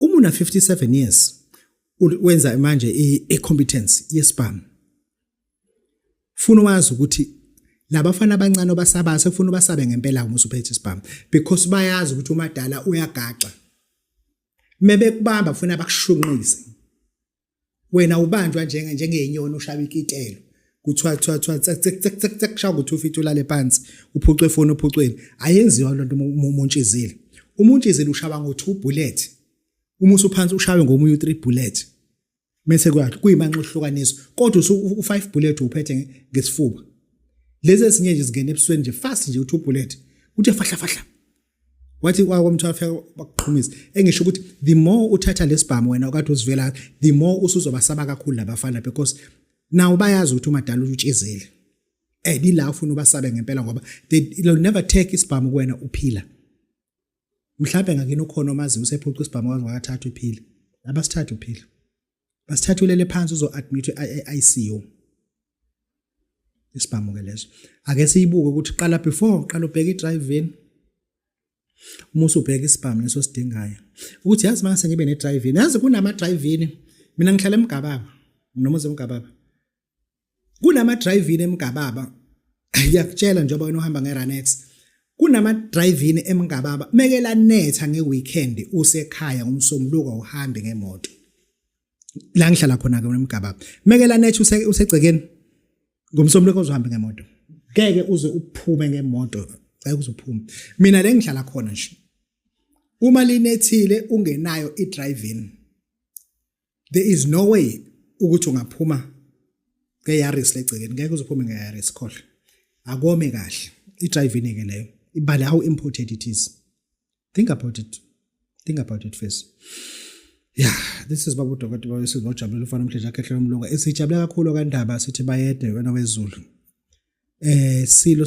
uma una 57 years wenza manje i-competence yesibhamu funa wazi ukuthi labafana abancane obasaba sekufuna ubasabe ngempela uma usuphethe isibhamu because bayazi ukuthi umadala uyagaxa mebekubamba funa bakushunqise wena ubanjwa njenge njengenyoni ushaba ikitelo kuthiwa kuthiwa kuthiwa kushawa ukuthi ufithe ulale phansi uphucwe ifoni ophucweni ayenziwa lento umuntshizile umuntshizile ushaba ngo 2 bullet uma usuphansi ushawe ngomunye u 3 bullet mese kwathi kuyimanxa uhlukaniswa kodwa usu u 5 bullet uphethe ngesifuba lezi ezinye nje zingena ebusweni nje fast nje u 2 bullet uthe fahla fahla wathi kwako mthu afika bakuqhumisa engisho ukuthi the more uthatha lesibhamu wena okade uzivela the more usuzobasaba kakhulu labafana because nawo bayazi ukuthi umadala utshizile and ila ufuna ubasabe ngempela ngoba they will never take isibhamu kuwena uphila mhlawumbe ngakini ukhona omazi usephuca isibhamu wazi wakathatha uphila abasithatha uphila basithatha ulele phansi uzo admit iICU isibhamu ke leso ake siyibuke ukuthi qala before qala ubheke idrive in uma usubheka isibhamu leso sidingayo ukuthi yazi mase ngibe ne drive in yazi kunama drive in mina ngihlala emgababa noma uzemgababa kunama drive-in emgababa ngiyakutshela njengoba wena uhamba nge-Ranex kunama drive-in emgababa mekela netha ngeweekend usekhaya umsombuluko uhambe ngemoto la ngihlala khona ke emgababa mekela netha usegcekeni ngomsombuluko uzohambe ngemoto ngeke uze uphume ngemoto cela uzophume mina le ngihlala khona nje uma linethile ungenayo i-drive-in there is no way ukuthi ungaphuma ngeyaris legcekeni ngeke uzophume ngeyaris khohle akome kahle idrivini ke leyo ibale how important it is think about it think about it first ya this is babu dokotela wesizwe bajabulile ufana umhlanje akhe hlelo umlunga esijabule kakhulu kandaba sithi bayede wena wezulu eh silo